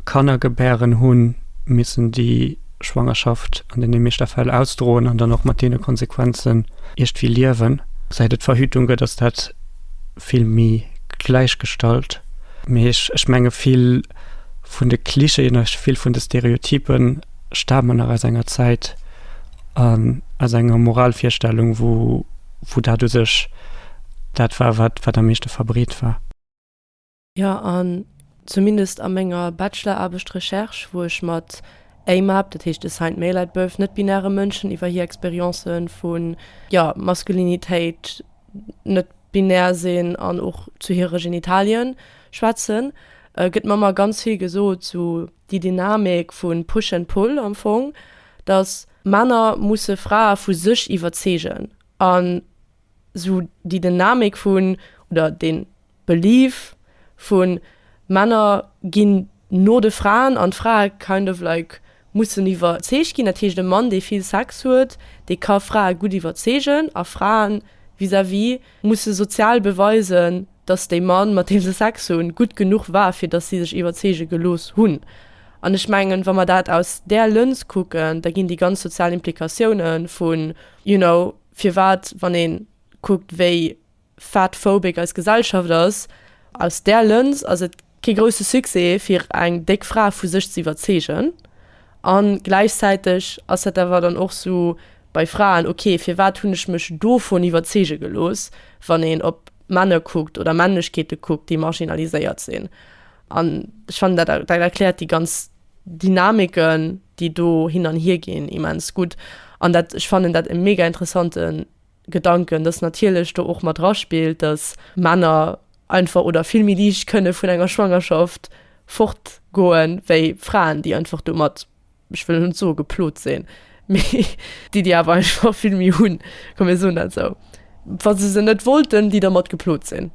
Kanner gebären hunn, missen déi Schwangerschaft an deene meeschter Fäll ausdroen an dann och mat deene Konsequenzen iergdwéi liewen. Säit et Verhütung gëtt, ass dat vill méi gläichgestallt. Mee ech, ech menge vill vun de Klischeeën a vill vun de Stereotype stamen nach aus enger Zäit an aus enger Moralvirstellung, wou, wou dat u sech dat war, wat, wat am meeschte verbreet war. Jo, an zumindest a menger Bacheloraarbecht-Recherche, wou ech mat AMAB, dat heescht Assigned Male at Birth, net-binäre Mënschen iwwer hir Experience vu, jo, Maskulinitéit, net-binär sinn an och zu hire Genitalien schwätzen, gëtt mer ëmmer ganz vill gesot, sou déi Dynamik vu Push and Pull am Fong, dass Männer musse Frae vu sech iwwerzeegen an, sou déi Dynamik vun oder den Belief vun Männer ginn no de Fraen an d'Frae kind of like mussen iwwerzeegt ginn. Dat heescht e Mann dee vill Sex huet, dee ka Frae gutt iwwerzeegen a Fraen vis à vis musse sozial beweisen, dass dee Mann mat deem se Sex hunn gutt genuch war fir dass si sech iwwerzeege gelooss hunn. An ech mengen wa mer dat aus där Lëns kucken, da ginn déi ganz sozial Implikatioune vun you know, firwat, wann ee kuckt, wéi fatphobic eis Gesellschaft ass, aus där Lëns ass et kee grousse Succès, fir eng déck Fra vu sech ze iwwerzeegen. A gläichzäiteg ass dat awer dann och esou bei Fraen, ok, firwat hunn ech mech dovun iwwerzeege gelooss, wann een op Männer kuckt oder Männlechkeete kuckt, déi marginaliséiert sinn. An ech fannen dat dat erkläert déi ganz Dynamiken, déi do hin an hier ginn, immens gutt. An dat ech fannen dat e mega interessante Gedanken, datt natierlech do och mat draspillt, datt Männer einfach oder vill méi liicht kënne vun enger Schwangerschaft fortgoe wéi Fraen, déi einfach domat, ech wëll elo net soe geplot sinn, mee déi déi awer einfach vill méi hunn, komm mir soen dat esou, wa se se net wollten, déi domat geplot sinn.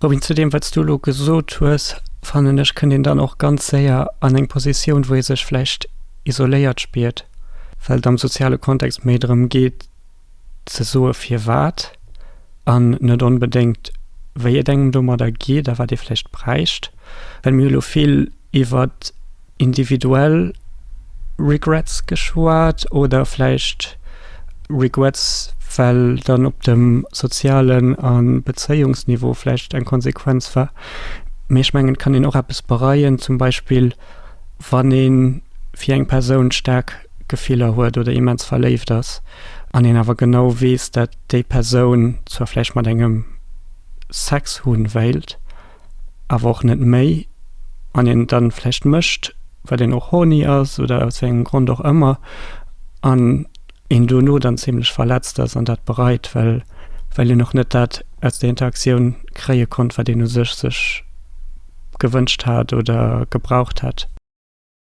Bobby, zu deem, wat s du elo gesot hues, fannen ech, kënnt een dann och ganz séier an eng Positioun, wou ee sech vläicht isoléiert spiert, well et am soziale Kontext méi drëm geet ze soe firwat an net onbedéngt wéi et engem domadder geet a wat ee vläicht bräicht. Well mir elo vill iwwert. individuell Regrets geschwat oder vläicht Regrets, well dann op dem sozialen a Bezéiungsniveau vläicht eng Konsequenz war. Mee ech mengen, et kann een och eppes bereien, zum Beispill wann ee fir eng Persoun staark Gefiller huet oder immens verléift ass an een awer genau weess, datt déi Persoun zwar vläicht mat engem Sex hunn wéilt, awer och net méi, an een dann vläicht mécht, well een och horny ass oder aus wéiengem Grond och ëmmer, an een dono dann zimlech verletzt ass an dat bereit, well well een och net dat aus der Interaktioun kréie konnt, wat een u sech sech gewënscht hat oder gebraucht hätt.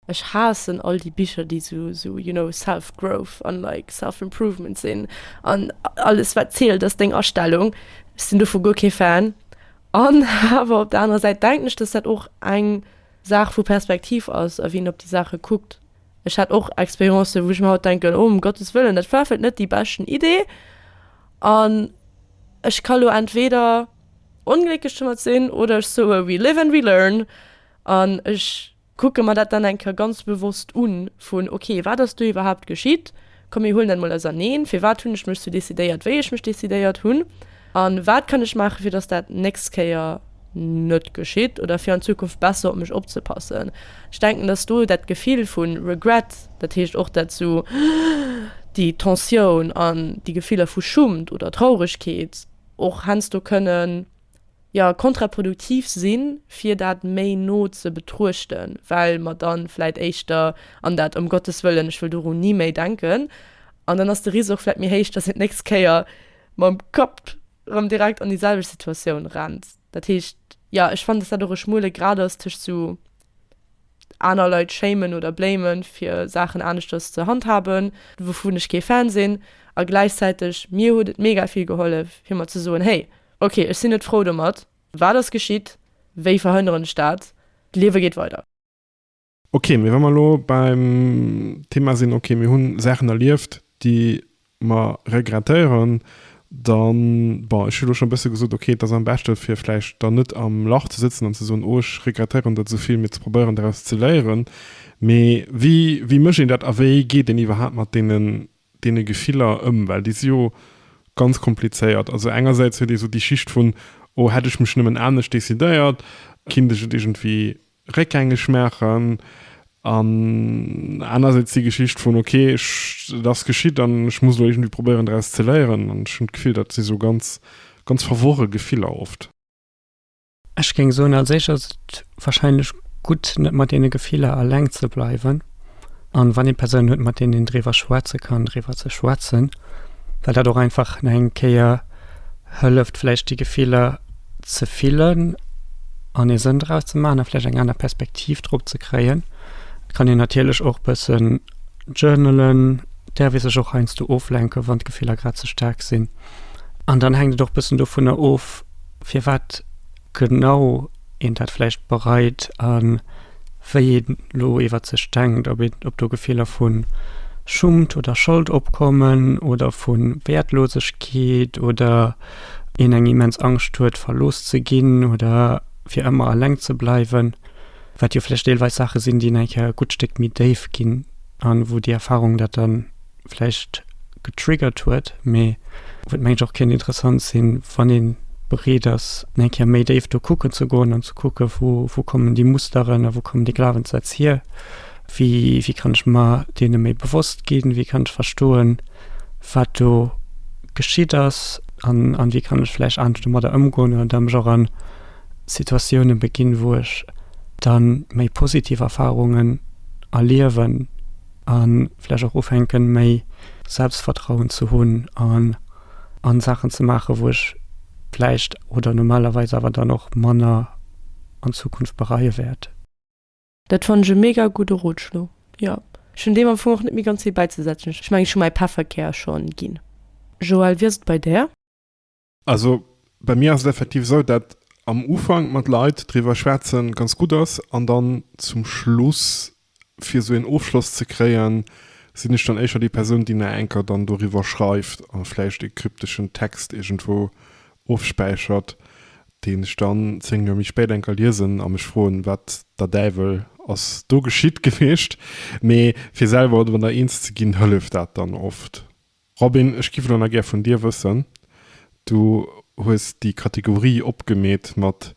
Ech haassen all déi Bicher déi sou sou you know self growth an like self improvement sinn an alles wat zielt ass deng Astellung. Ech sinn dovu guer kee Fan an awer op der anerer Säit denken ech dass dat och eng Saach vu Perspektiv ass a wéi een op déi Saache kuckt. Ech hat och Expérience wou ech mir haut denken oh um Gottes wëllen dat war vläit net déi beschten Idee an ech ka lo entweder onglécklech domat sinn oder ech soe we live and we learn an ech Kucke mer dat dann eng Kéier ganz bewosst un, vun, ok, wat ass do iwwerhaupt geschitt? Komm, mir huelen dat mol auserneen. Firwat hunn ech mech sou decidéiert, wéi ech mech decidéiert hunn? A wat kann ech maachen, fir dass dat d'nächst Kéier net geschitt oder fir an Zukunft besser op mech opzepassen? Ech denken, dass do dat Gefill vu Regret, dat heescht och dat sou, déi Tensioun an déi Gefiller vu Schummt oder Trauregkeet och heiansdo kënnen, jo, kontraproduktiv sinn, fir dat méi no ze betruechten, well mer dann vläit éischter an dat ëm Gottes wëllen, ech wëll doru ni méi denken, an dann ass de Risk och vläit méi héich, dass een d'nächst Kéier mam Kapp erëm direkt an déi selwecht Situatioun rennt. Dat heescht, jo, ech fannen, dass dat och e schmuele Grad ass tëscht esou aner Leit shamen oder blamen, fir Saachen aneschters ze handhaben, wouvun ech kee Fan sinn, a gläichzäiteg mir huet et mega vill gehollef, fir mer ze soen, hey, Ok, ech sinn net frou domat. Wat ass geschitt? Wéi verhënneren ech dat? D'Liewe geet weider. Ok, mee wa mer elo beim Thema sinn, ok, mir hu Saachen erlieft, déi mer regrettéieren, dann, bon, ech hu elo schonn e bësse gesot, ok, et ass am beschte fir vläicht dann net am Lach ze sëtzen an ze soen, oh, ech regrettéieren dat esou vill, mee ze probéieren doraus ze léieren. Mee wéi mécht een dat a wéi geet een iwwerhaapt mat deenen deene Gefiller ëm? Well déi si jo ganz komplizéiert. Also engersäits huet ee sou déi Schicht vun, oh, hätt ech mech nëmmen anescht decidéiert, kinnt ech et iergendwéi réckgängeg maachen. An anersäits déi Geschicht vun, ok, ech, et ass geschitt an ech muss elo iergendwéi probéieren draus ze léieren. An ech hunn d'Gefill, dat si sou ganz, ganz verworre Gefiller oft. Ech géing soen, als éischt ass et wahrscheinlech gutt, net mat deene Gefiller eleng ze bleiwen. An wann ee Persounen huet, mat deenen een driwwer schwätze kann, driwwer ze schwätzen, well dat och einfach nach eng Kéier hëlleft, vläicht déi Gefiller ze fillen an ee Sënn draus ze maachen a vläicht eng aner Perspektiv drop ze kréien. Et kann een natierlech och bëssen journalen, däerf ee sech och heiansdo oflenken, wann d'Gefiller grad ze staark sinn. An dann hänkt et och bëssen dovunner of, firwat genau een dat vläicht bereit a wéi ee lo iwwert sech denkt, ob een, ob do Gefiller vu Schummt oder Schold opkommen oder vu Wäertlosegkeet oder een eng immens Angscht huet, verlooss ze ginn oder fir ëmmer eleng ze bleiwen, wat jo vläicht deelweis Saache sinn, déi nach e gutt Stéck méi déif ginn a wou déi Erfarung dat dann. vläicht getriggert huet, mee wëllt mengt ech och kéint interessant sinn, wann ee bereet ass fir eng Kéier méi déif do kucken ze goen an ze kucke vu wou kommen déi Musteren a wou kommen déi Glawenssätz hier. Wéi wéi kann ech mer deene méi bewosst ginn, wéi kann ech verstoen, wat do geschitt ass an an wéi kann ech vläicht anescht domadder ëmgoen oder da mech och a Situatioune beginn, wou ech da méi positiv Erfarungen erliewen. a vläch och ufänken, méi Selbstvertrauen ze hunn an an Saachen ze maachen, wou ech vläicht oder normalerweis awer dann och manner an Zukunft bereie wäert. Dat fannen ech e mega gudde Rotschlo, jo. Ech hunn deem am Fong och net méi ganz vill bäizesetzen. Ech mengen, ech hu mäi Pefferkär schonn ginn. Joël, wéi ass et bei där? Also bei mir ass et effektiv esou, dat am Ufank mat Leit driwwer schwätze ganz gutt ass an dann zum Schluss, fir esou een Ofschloss ze kréien, sinn ech dann éischer déi Persoun, déi nach enker dann doriwwer schreift a vläicht e krypteschen Text iergendwou ofspäichert, deen ech dann zéng Joer méi spéit enker liesen a mech froen, wat der Däiwel ass do geschitt gewiescht. Mee fir selwer driwwer eens ze ginn, hëlleft dat dann oft. Robin, ech giff elo nach gär vun dir wëssen, du hues déi Kategorie opgemeet mat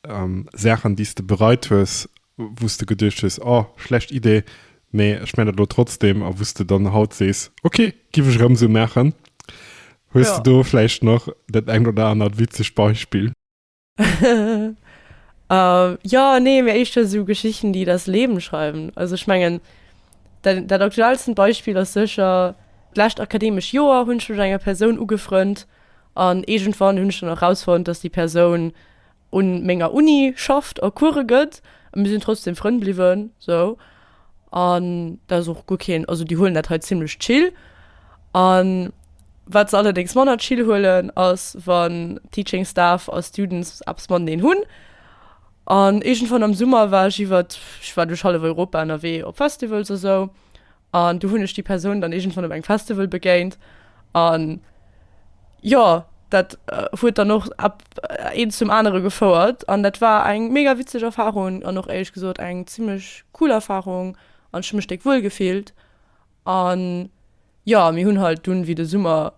Saachen déi's de bereit hues, wou's de geduecht hues, oh schlecht Idee, mee ech mengen dat elo trotzdem, a wou's de dann haut sees, ok, giff ech erëm esou maachen. Hues de do vläicht nach dat engt oder anert witzegt Beispill? ähm, ja, nee, mir echt so Geschichten, die das Leben schreiben. Also ich mengen dat, dat aktuellsten Beispiel ass secher d'lächt akademesch Joer hunn schon enger Persoun ugefrënnt an egentwann hunn schon herausfund, dass die Persoun un menger Uni schafft a Kurre gëtt. mir sinn trotzdem Frënn bliwwen so. An dat ass och guer keen, also déi huelen dat hei zimmlech chill. An wat se allerdéngs manner chill huelen ass wann Teaching Staff a Students eppes mateneen hunn. An iergendwann am Summer war ech iwwert, ech war duerch hallef Europa ënnerwee op Festivals a sou, an du hunn ech déi Persoun dann iergendwann op engem Festival begéint. An jo, dat huet dann och ab eent zum anere gefouert. An dat war eng mega witzeg Erfahrung an och éierlech gesot eng zimlech cool Erfahrung an ech hu mech déck wuel gefillt. An jo, mir hunn halt dunn, wéi de Summer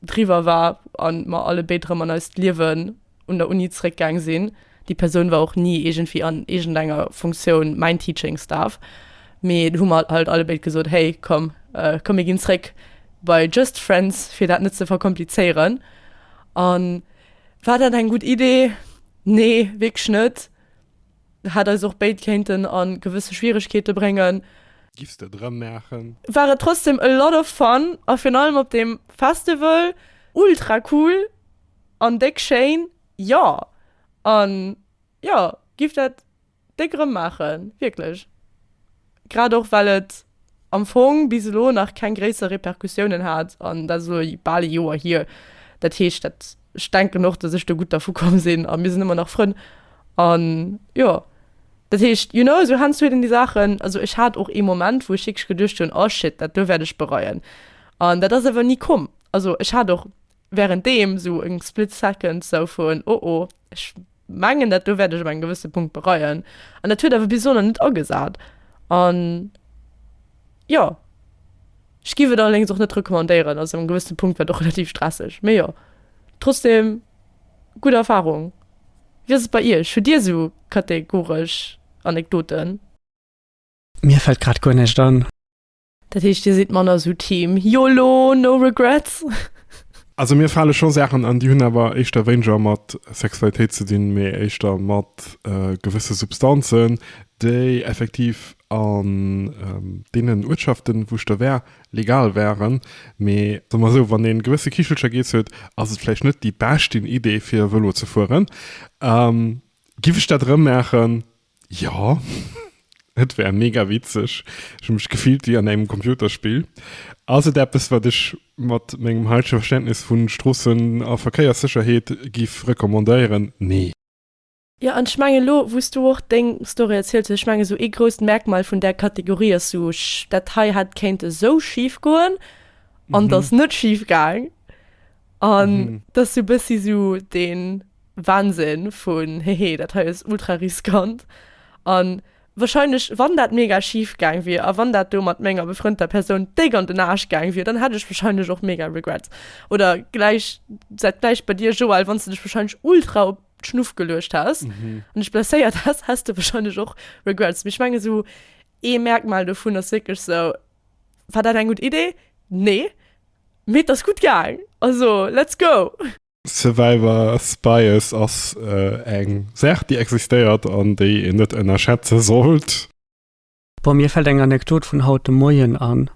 driwwer war an mer allebéid rëm an eist Liewen un der Uni zréckgaang sinn. Déi Persoun war och ni iergendwéi an iergendenger Funktioun mäin Teaching Staff, mee hu mer halt allebéid gesot, Hey, komm, komm mir ginn zréck bei just friends, fir dat net ze verkomplizéieren. An war dat eng gutt Idee? Nee, wierklech net. Hätt eis och béid kéinten a gewësse Schwieregkeete bréngen. Giffs de et erëm maachen? War et trotzdem a lot of fun a virun allem op deem Festival ultra cool. An déck schéin, jo! An jo, giff dat déck erëm maachen, wierklech. Grad och well et am Fong bis elo nach keng gréisser Repercussiounen hat, an dat ass elo bal ee Joer hier. Dat heescht, dat, ech denken och, datt ech do gutt dervu komm sinn, a mir sinn ëmmer nach Frënn. An jo, dat heescht, you know, sou hannezou hunn déi Saachen, also ech hat och ee Moment, wou ech wierklech geduecht hunn, oh shit, dat do wäert ech bereien. An dat ass awer ni komm. Also ech hat och. während deem esou eng split second esou vun oh oh, ech mengen dat do wäert ech op engem gewësse Punkt bereien, an dat huet awer bis elo nach net agesat. An jo, ech giff et allerdéngs och net recommandéieren, also op engem gewësse Punkt war et och relativ stresseg, mee jo, trotzdem gutt Erfahrung. Wéi ass et bei iech, hutt dir esou kategoresch Anekdoten? Mir fällt grad guer näischt an. Dat heescht dir sidd manner sou Team Yolo, no regrets? Also mir fale scho Saachen an, déi hunn awer éischter wéineger mat Sexualitéit ze dinn, mee éischter mat gewësse Substanzen, déi effektiv an deenen Uertschaften, wou ech do war, legal waren. Mee soe mer esou, wann ee gewësse Kichelcher geess huet, ass et vläicht net déi beschten Idee fir Vëlo ze fueren. Giff ech dat erëmmaachen? Jo, et wär mega witzeg. Ech hu mech gefillt wéi an engem Computerspill. Ass et eppes, wat ech mat mengem heitege Verständnis vu Stroossen a Verkéierssécherheet giff recommandéieren? Nee. Jo, an ech mengen, elo wou s du och deng Story erzielt hues, ech mengen, esou ee grousst Merkmal vun där Kategorie ass esou, dat hei hätt kéint esou schif goen an et ass net schif gaang. An mhm. das so bëssi so den Wahnsinn vun hehe, dat hei ass ultra riskant. An wahrscheinlich wann dat mega schief gang wie a wann dat do mat menger befrënter Person déck an den Arsch gang wie, dann hat ech wahrscheinlich och mega Regrets. Oder gleich seit gleich bei dir Joel, wann du dich wahrscheinlich ultra op Schnuff gelucht hast mhm. und ich blessiert hast, hast du wahrscheinlich och Regrets. Mich menge so e Merkmal davon ass wirklich so War dat eng gutt Idee? Nee, mee et ass gutt gaang, also let's go! Survivor's Bias ass eng Saach, déi existéiert an déi een net ënnerschätze sollt. Bon, mir fällt eng Anekdot vun haut de Moien an.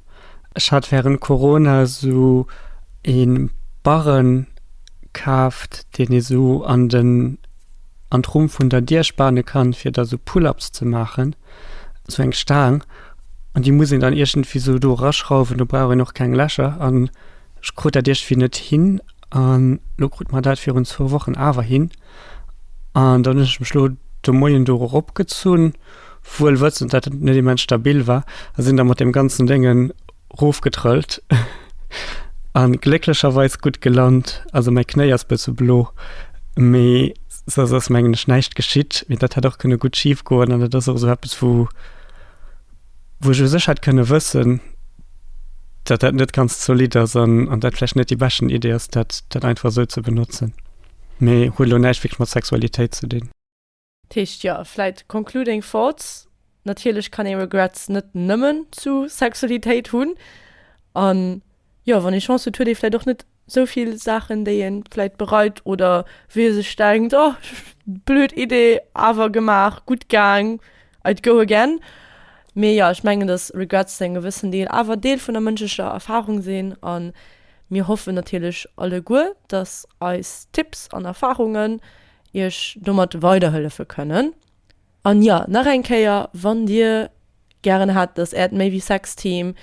Ech hat während Corona sou een Barren kaaft, deen ee sou an den an d'Rumm vun der Dier spane kann fir da sou Pull-ups ze maachen, sou eng Staang an déi muss een dann iergendwéi sou do eraschrauwen, do brauch een och keng Lächer an ech krut dat iergdwéi net hin an lo krute mer dat virun zwou Wochen awer hin an dann hunn ech mech lo de Moien do erop gezunn, wuel wëssend dat et net immens stabil war a sinn da mat deem ganzen Déngen roofgetrëllt an glécklecherweis gutt gelant, also mäi Knéi ass bësse blo mee soss ass mengen ech näischt geschitt, mee dat hätt och kënne gutt schif goen an dat ass och esou eppes wou wou ech u sech hätt kënne wëssen dat dat net ganz zolidd ass an an dat vläicht net déi beschten Idee ass dat dat einfach esou ze benotzen, mee huet elo näischt wierklech mat Sexualitéit ze dinn. Dat heescht, jo, vläit concluding thoughts, natierlech kann ee Regrets net nëmmen zu Sexualitéit hunn. A jo, wann ee Chance huet, huet ee vläit och net sou vill Saachen, déi ee vläit bereit oder wou ee sech denkt, oh, blöd Idee, awer gemaach, gutt gaang, I'd go again. Mee jo, ech mengen, datt Regrets zu engem gewëssen Deel awer Deel vun der mënschlecher Erfarung sinn. A mir hoffen natierlech alleguer, datt eis Tipps an Erfarungen iech domat weiderhëllefe kënnen. An jo, nach eng Kéier, wann dir gären hätt, dass äert Maybe Sex Team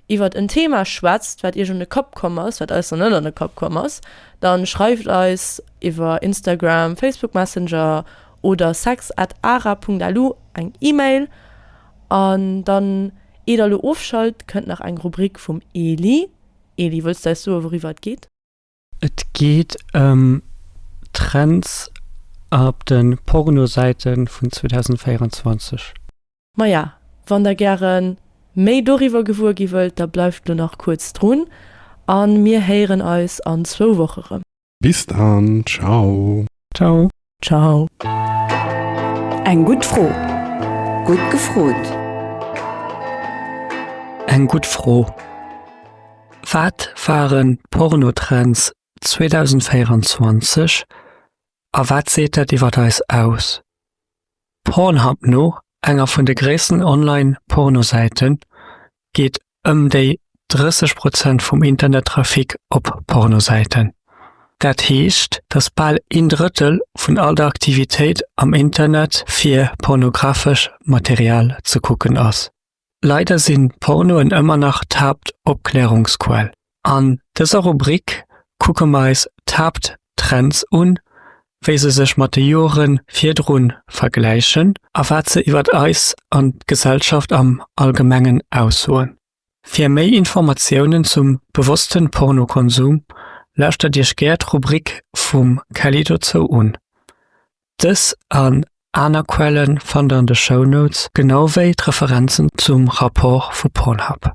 iwwert en Thema schwätzt, wat iech un de Kapp komm ass, wat eis nach net an de Kapp komm ass, dann schreift eis iwwer Instagram, Facebook Messenger oder sex at ara Punkt lu eng Email. An dann, ier der lo ofschalt, kënnt nach eng Rubrik vum Eli. Eli, wëlls du eis soe wouriwwer et geet? Et geet ëm Trends ab de Pornosäite vun 2024. Maja, wann der gäre méi doriwwer gewuer gi wëllt, da bleift lo nach kuerz drun an mir héieren eis an zwou Woche rëm. Bis dann, ciao. Ciao. Ciao. Eng gutt Fro. Gutt gefrot. Eng gutt Fro. Wat waren d'Pornotrends 2024 a wat seet dat iwwer eis aus? Pornhub No enger vun de gréissten Online-Pornosäiten geet ëm déi 30 Prozent vum Internettrafic op Pornosäiten. Dat heescht, datt bal een Drëttel vun all der Aktivitéit am Internet fir pornografesch Material ze kucken ass. Leider sinn Pornoen ëmmer nach d'Haaptopklärungsquell. An dëser Rubrik kucke mer eis d'Haapttrends un, wéi se sech mat de Jore virdru vergläichen a wat se iwwer eis an d'Gesellschaft am Allgemengen aussoen. Fir méi Informatiounen zum bewosste Pornokonsum lauschtert Iech gär d'Rubrik vum Kelly dozou un. Dës an aner Quellen fannt der an de Shownotes, genau wéi d'Referenzen zum Rapport vu Pornhub.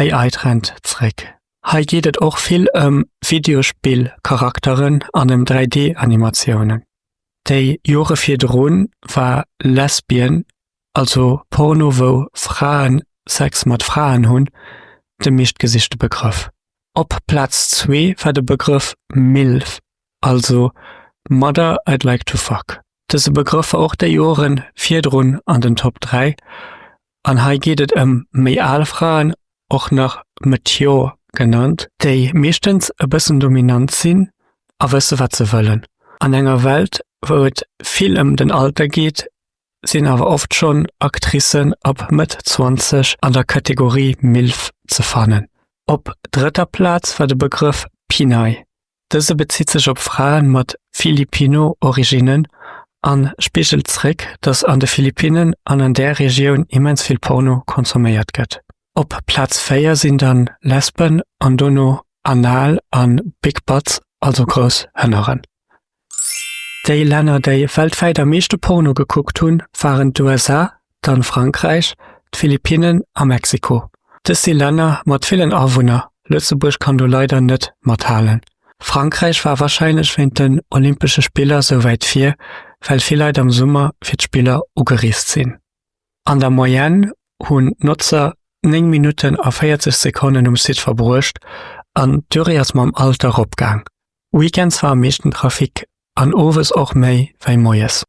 AI Trend zréck. Hei geet et och vill ëm Videospill-Charakteren an ëm 3D-Animatiounen. Déi Jore virdrun war Lesbian, also Porno wou Fraen Sex mat Fraen hunn, de meeschtgesichte Begrëff. Op Plaz zwee war de Begrëff Milf, also Mother I'd Like To Fuck. Dëse Begrëff war och déi Jore virdrun an den Top 3 An hei geet et ëm méi al Fraen, och nach Meteor genannt, déi meeschtens e bëssen dominant sinn a wësse wat se wëllen. An enger Welt wou et vill ëm den Alter geet, sinn awer oft schonn Actricen ab Mëtt 20 an der Kategorie Milf ze fannen. Op drëtter Plaz war de Begrëff P'Nai, Dëse bezitt sech op Frae mat Filipino-Originnen a spigelt zréck, datt an de Philippinnen an an där Regioun immens vill Porno consomméiert gëtt. Op Plaz 4 sinn dann Lesben an dono Anal a Big Butts, also grouss Hënneren. Déi Länner, déi weltwäit am meeschte Porno gekuckt hunn, waren d'USA, dann Frankräich, d'Philippinnen a Mexiko. Dës si Länner mat villen Awunner, Lëtzebuerg kann do leider net mathalen. Frankräich war warscheinlech wéint den Olympesche Spiller sou wäit vir, well vill Leit am Summer fir d'Spiller ugereest sinn. An der Moyenne hunn d'Notzer 9 Minutten a 40 Sekonnen um Site verbruecht an d'Durée ass mam Alter eropgaang. Weekends war am meeschten Trafic an owes och méi wei moies.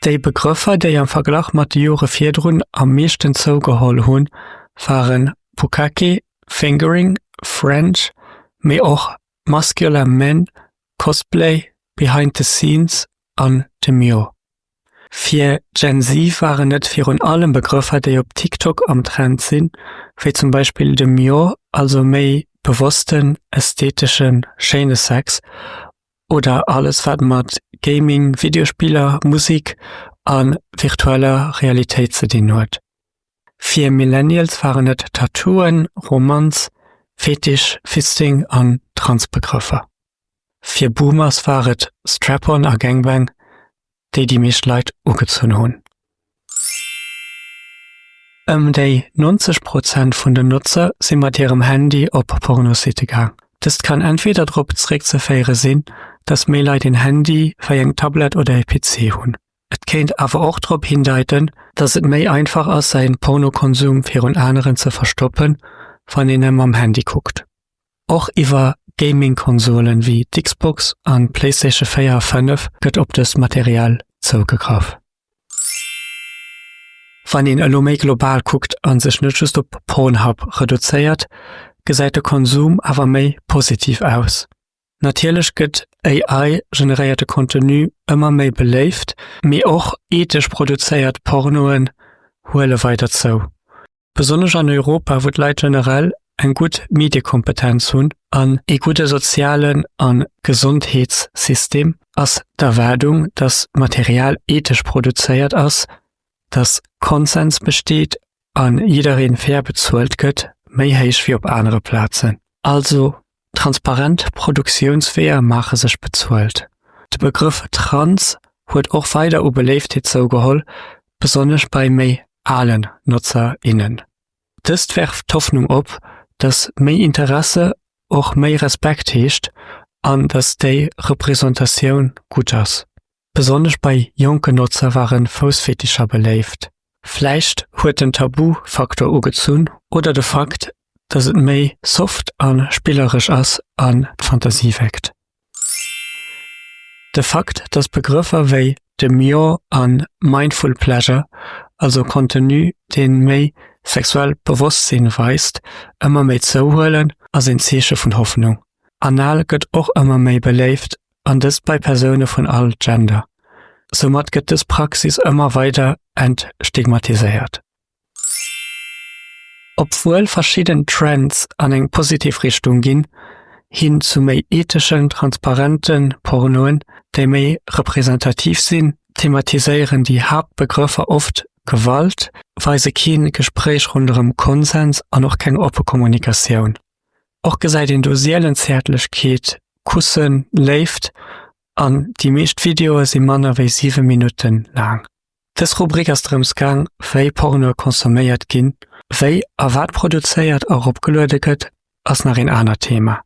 Déi Begrëffer, déi am Verglach mat de Jore virdrun am meeschten zougeholl hunn, waren Bukkake, Fingering, French, mee och Muscular Men, Cosplay, Behind the Scenes an Demure. Fir Gen Z waren et virun allem Begrëffer, déi op TikTok am Trend sinn, wéi zum Beispill Demure, also méi bewossten, ästheteschen, schéine Sex, oder alles wat mat Gaming, Videospiller, Musik a virtueller Realitéit ze dinn huet. Fir Millennials waren et Tattooen, Romanz, Fetisch, Fisting an Trans-Begrëffer. Fir Boomers war et Strap-on a Gangbang, déi déi meescht Leit ugezunn hunn. Ëm déi 90 Prozent vun den Notzer si mat hirem Handy op Pornositte gaang. Dëst kann entweder drop zeréckzeféiere sinn, dass méi Leit een Handy wei eng Tablett oder e PC hunn. Et kéint awer och drop hindeiten, dass et méi einfach ass säin Pornokonsum virun aneren ze verstoppen, wann een nëmme mam Handy kuckt. Och iwwer Gaming-Konsolen wéi d'Xbox an d'Playstation 4 a 5 gëtt op dëst Material zougegraff. Wann een elo méi global kuckt a sech net just op Pornhub reduzéiert, gesäit de Konsum awer méi positiv aus. Natierlech gëtt AI-generéierte Contenu ëmmer méi beléift, mee och ethesch produzéiert Pornoen huele weider zou. Besonnesch an Europa, wou d'Leit generell eng gutt Mediekompetenz hunn an ee gudde sozialen a Gesondheetssystem, ass d'Erwaardung, datt Material ethesch produzéiert ass, datt Konsens besteet a jidderee fair bezuelt gëtt, méi héich wéi op anere Plazen. Also Transparent Produktiounsweeër maache sech bezuelt. De Begrëff trans huet och weider u Beléiftheet zougeholl, besonnesch bei méi alen Notzer, innen. Dëst werft d'Hoffnung op, datt méi Interesse och méi Respekt heescht an datt déi Representatioun gutt ass. Besonnesch bei jonke Notzer ware Foussfetischer beléift. Vläicht huet den Tabu-Faktor ugezunn oder de Fakt, dass et méi soft a spilleresch ass an d'Fantasie weckt. De Fakt, dass Begrëffer wéi Demure an Mindful Pleasure, also Contenu, dee méi sexuell Bewosstsinn weist, ëmmer méi zouhuelen, ass een Zeeche vun Hoffnung. Anal gëtt och ëmmer méi beléift an dëst bei Persoune vun all Gender. Soumat gëtt dës Praxis ëmmer weider entstigmatiséiert. Obwuel verschidden Trends an eng positiv Richtung ginn, hin zu méi etheschen, transparente Pornoen, déi méi representativ sinn, thematiséieren déi Haaptbegrëffer oft Gewalt, weise kee Gespréich ronderëm Konsens an och keng oppe Kommunikatioun. Och gesäit een do sielen Zäertlechkeet, Kussen, Léift an déi meescht Videoe si manner wéi 7 Minutten laang. Dës Rubrik ass drëms gaang, wéi Pornoe consomméiert ginn. Wéi a wat produzéiert a ropgeluede gëtt, ass nach een anert Thema.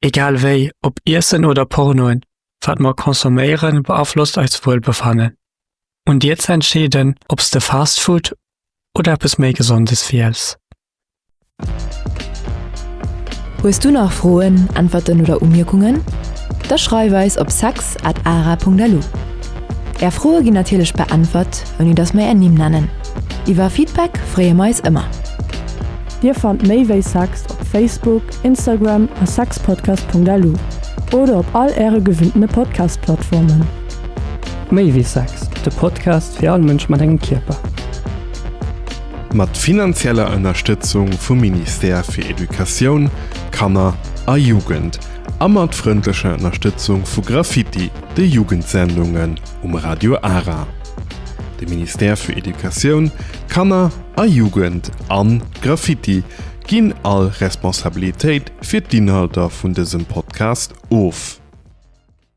Egal wéi, ob Iessen oder Pornoen, wat mer consomméiere beaflosst eist Wuelbefannen. Un dir ze entscheeden, ob s de Fast Food oder eppes méi Gesondes wiels. Hues du nach Froen, Äntwerten oder Umierkungen? Da schreif eis op sex at ara.lu. Är Froe ginn natierlech beäntwert, ouni dass mer är Nimm nennen. Iwwer Feedback freeë mer eis ëmmer. Dir fannt méi wéi sex op Facebook, Instagram a sexpodcast.lu oder op all äre gewinntene Podcast-Plattformen. Méi wéi sex, de Podcast fir all Mënsch mat engem Kierper. Mat finanzieller Ënnerstëtzung vum Ministère fir Educatioun, Kanner a Jugend a mat frëndlecher Ënnerstëtzung vu Graffiti, de Jugendsendungen um Radio Ara. De Ministère fir Educatioun, Kanner a Jugend an Graffiti ginn all Responsabilitéit fir d'Inhalter vun dësem Podcast of.